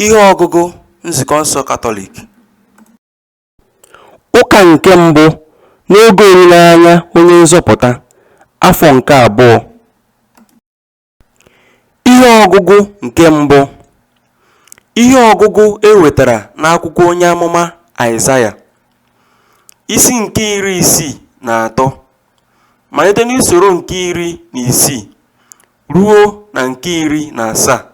Ihe ọgụgụ Nzukọ nsọ Katọlik. Ụka nke mbụ n'oge olileanya Onye Nzọpụta, afọ nke abụọ. Ihe ọgụgụ nke mbụ. Ihe ọgụgụ e wetara n'akwụkwọ onye amụma Aịzaya, isi nke iri isii na atọ, malite n'usoro nke iri na isii ruo na nke iri na asaa,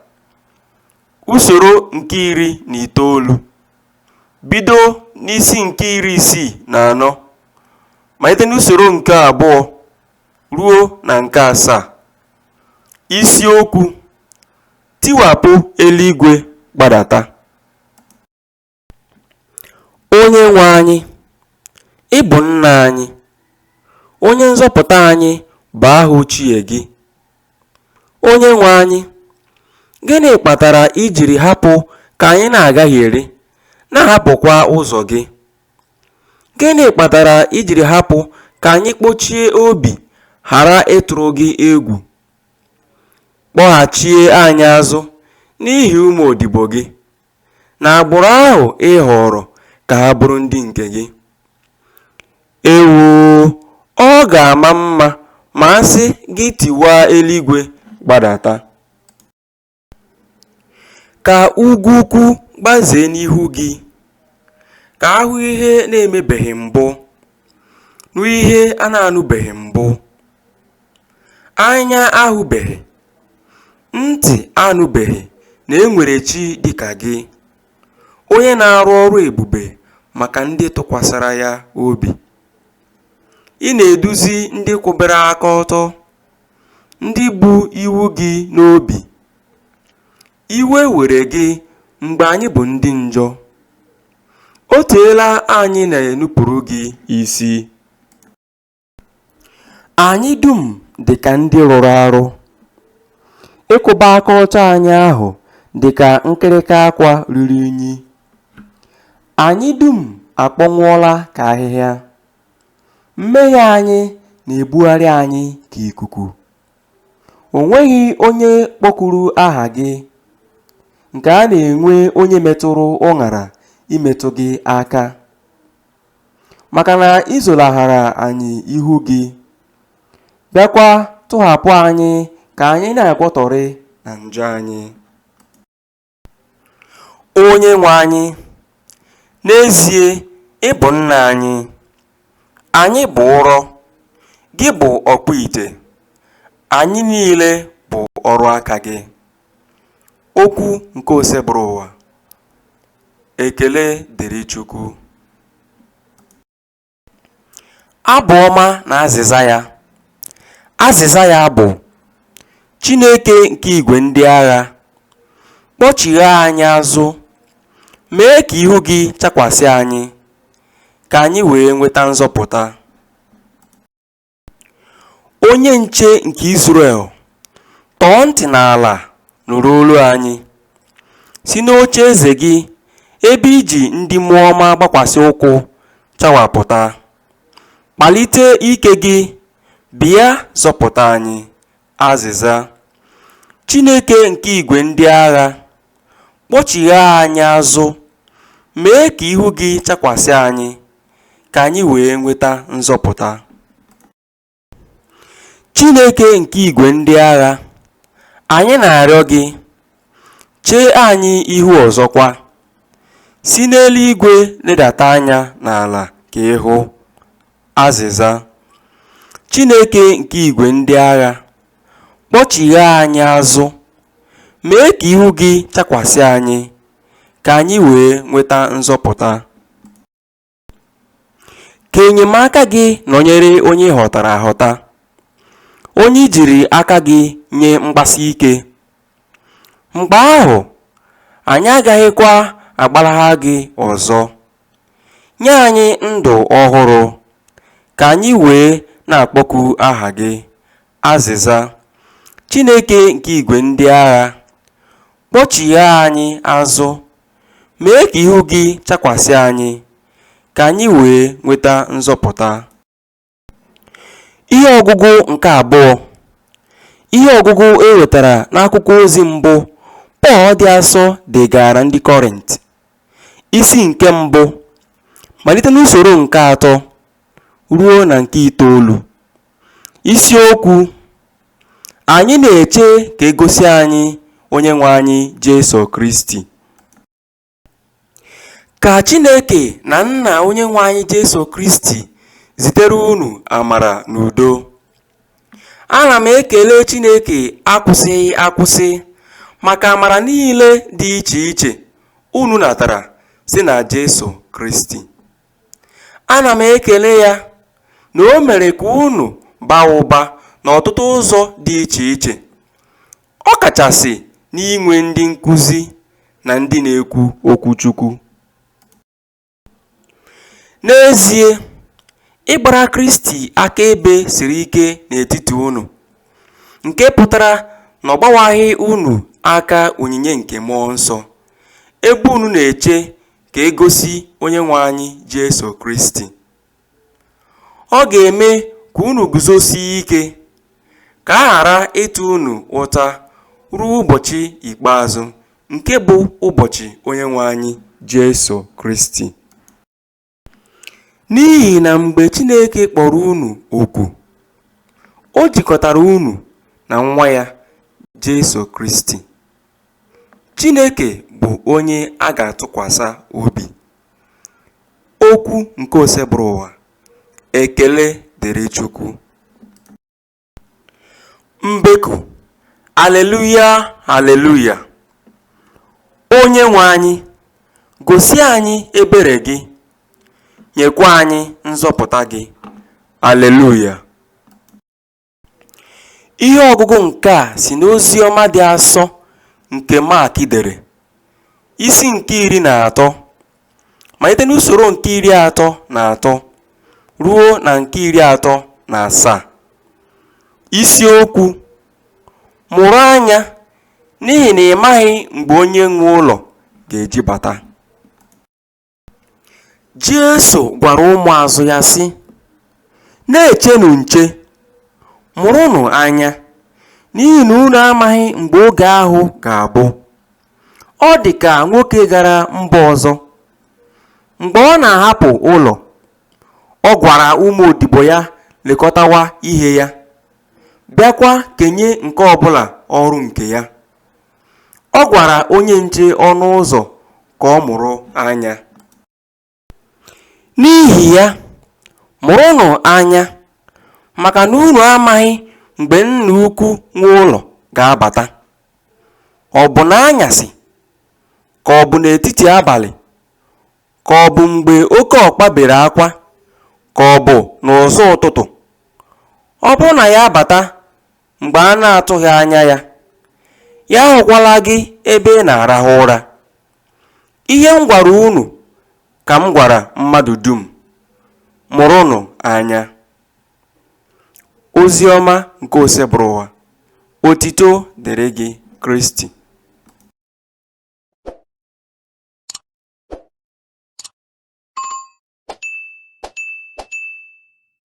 usoro nke iri na itoolu, bido n'isi nke iri isii na anọ, malite n'usoro nke abụọ ruo na nke asaa. Isiokwu, Tiwapụ eluigwe gbadata. Onyenwe anyị, ị bụ Nna anyị, Onye nzọpụta anyị bụ aha ochie gị. Onyenwe anyị, gịnị kpatara i jiri hapụ ka anyị na-agagheri, na-ahapụkwa ụzọ gị? Gịnị kpatara i jiri hapụ ka anyị kpochie obi ghara ịtụrụ gị egwu? Kpọghachie anyị azụ n'ihi ụmụ odibo gị. na agbụrụ ahụ ị họọrọ ka ha bụrụ ndị nke gị. Ewoo, ọ ga-ama mma ma a sị gị tiwaa eluigwe gbadata. Ka ugwu ukwu gbazee n'ihu gị. Ka a hụ ihe na-emebeghị mbụ. Nụ ihe a na-anụbeghị mbụ. Anya ahụbeghị, ntị anụbeghị na e nwere chi dị ka gị, onye na-arụ ọrụ ebube maka ndị tụkwasara ya obi. Ị na-eduzi ndị kwụbara aka ọtọ, ndị bu iwu gị n'obi. Iwe were gị mgbe anyị bụ ndị njọ. O teela anyị na-enupụrụ gị isi. Anyị dum dị ka ndị rụrụ arụ. Ịkwụba aka ọtọ anyị ahụ dị ka nkịrịka akwa ruru unyi. Anyị dum akpọnwụọla ka ahịhịa. Mmehie anyị na-ebugharị anyị ka ikuku. O nweghị onye kpọkuru aha gị. Nke a na-enwe onye metụrụ ụṅara imetụ gị aka. Maka na i zolaghara anyị ihu gị, bịakwa tụghapụ anyị ka anyị na-agwọtọrị na njọ anyị. Onyenwe anyị, n'ezie ị bụ Nna anyị. Anyị bụ ụrọ, gị bụ ọkpụite, anyị niile bụ ọrụ aka gị. Okwu nke Osebụrụwa. Ekele dịrị Chukwu. Abụ ọma na azịza ya. Azịza ya bụ, Chineke nke igwe ndị agha, kpọchigha anyị azụ, mee ka ihu gị chakwasị anyị, ka anyị wee nweta nzọpụta. Onye nche nke Izrel, tọọ ntị n'ala nụrụ olu anyị. Si n'oche eze gị ebe i ji ndị mmụọ ọma gbakwasị ụkwụ chawapụta. Kpalite ike gị, bịa zọpụta anyị, Azịza, Chineke nke igwe ndị agha, kpọchigha anyị azụ, mee ka ihu gị chakwasị anyị, ka anyị wee nweta nzọpụta. Chineke nke igwe ndị agha, anyị na-arịọ gị, Chee anyị ihu ọzọkwa. Si n'eluigwe ledata anya n'ala ka ị hụ. Azịza. Chineke nke igwe ndị agha, kpọchigha anyị azụ, mee ka ihu gị chakwasị anyị, ka anyị wee nweta nzọpụta. Ka enyemaka gị nọnyere onye ị họtara ahọta, onye i jiri aka gị nye mgbasi ike. Mgbe ahụ, anyị agaghịkwa agbalagha gị ọzọ. Nye anyị ndụ ọhụrụ, ka anyị wee na-akpọku aha gị. Azịza, Chineke nke igwe ndị agha, kpọchigha anyị azụ, mee ka ihu gị chakwasị anyị, ka anyị wee nweta nzọpụta. Ihe ọgụgụ nke abụọ Ihe ọgụgụ e wetara n'akwụkwọ ozi mbụ Pọl dị asọ degaara ndị Kọrint, isi nke mbụ, malite n'usoro nke atọ ruo na nke itoolu. Isiokwu Anyị na-eche ka e gosi anyị Onyenwe anyị Jesu Kristi. Ka Chineke na Nna Onyenwe anyị Jesu Kristi zitere unu amara na udo. Ana m ekele Chineke akwụsịghị akwụsị maka amara niile dị iche iche unu natara si na Jesu Kristi. Ana m ekele ya na o mere ka unu baa ụba n'ọtụtụ ụzọ dị iche iche, ọ kachasị n'inwe ndị nkuzi na ndị na-ekwu okwu Chukwu. N'ezie, ịgbara Kristi akaebe siri ike n'etiti unu, nke pụtara na ọ gbawaghị unu aka onyinye nke mmụọ nsọ, ebe unu na-eche ka e gosi Onyenwe anyị Jesu Kristi. Ọ ga-eme ka unu guzosie ike, ka a ghara ịta unu ụta ruo ụbọchị ikpeazụ, nke bụ ụbọchị Onyenwe anyị Jesu Kristi. N'ihi na mgbe Chineke kpọrọ unu oku, o jikọtara unu na Nwa ya, Jesu Kristi. Chineke bụ onye a ga-atụkwasa obi. Okwu nke Oseburuwa. Ekele dịrị Chukwu. Mbeku. Aleluya, aleluya. Onyenwe anyị, gosi anyị ebere gị, nyekwa anyị nzọpụta gị. Aleluya. Ihe ọgụgụ nke a si n'Oziọma dị asọ nke Mak dere, isi nke iri na atọ, malite n'usoro nke iri atọ na atọ ruo na nke iri atọ na asaa. Isiokwu Mụrụ anya n'ihi na ị maghị mgbe onye nwe ụlọ ga-eji bata. Jesu gwara ụmụazụ ya sị, Na-echenụ nche, mụrụnụ anya, n'ihi na unu amaghị mgbe oge ahụ ga-abụ. Ọ dị ka nwoke gara mba ọzọ. Mgbe ọ na-ahapụ ụlọ, ọ gwara ụmụ odibo ya lekọtawa ihe ya, bịakwa kenye nke ọ bụla ọrụ nke ya. Ọ gwara onye nche ọnụ ụzọ ka ọ mụrụ anya. N'ihi ya, mụrụnụ anya, maka na unu amaghị mgbe nna ukwu nwe ụlọ ga-abata, ọ bụ n'anyasị, ka ọ bụ n'etiti abalị, ka ọ bụ mgbe oke ọkpa bere akwa, ka ọ bụ n'ụzọ ụtụtụ. Ọ bụrụ na ya abata mgbe a na-atụghị anya ya, ya ahụkwala gị ebe ị na-arahụ ụra. Ihe m gwara unu ka m gwara mmadụ dum, mụrụnụ anya. Ozi ọma nke Osebụrụwa, otito dịrị gị Kristi.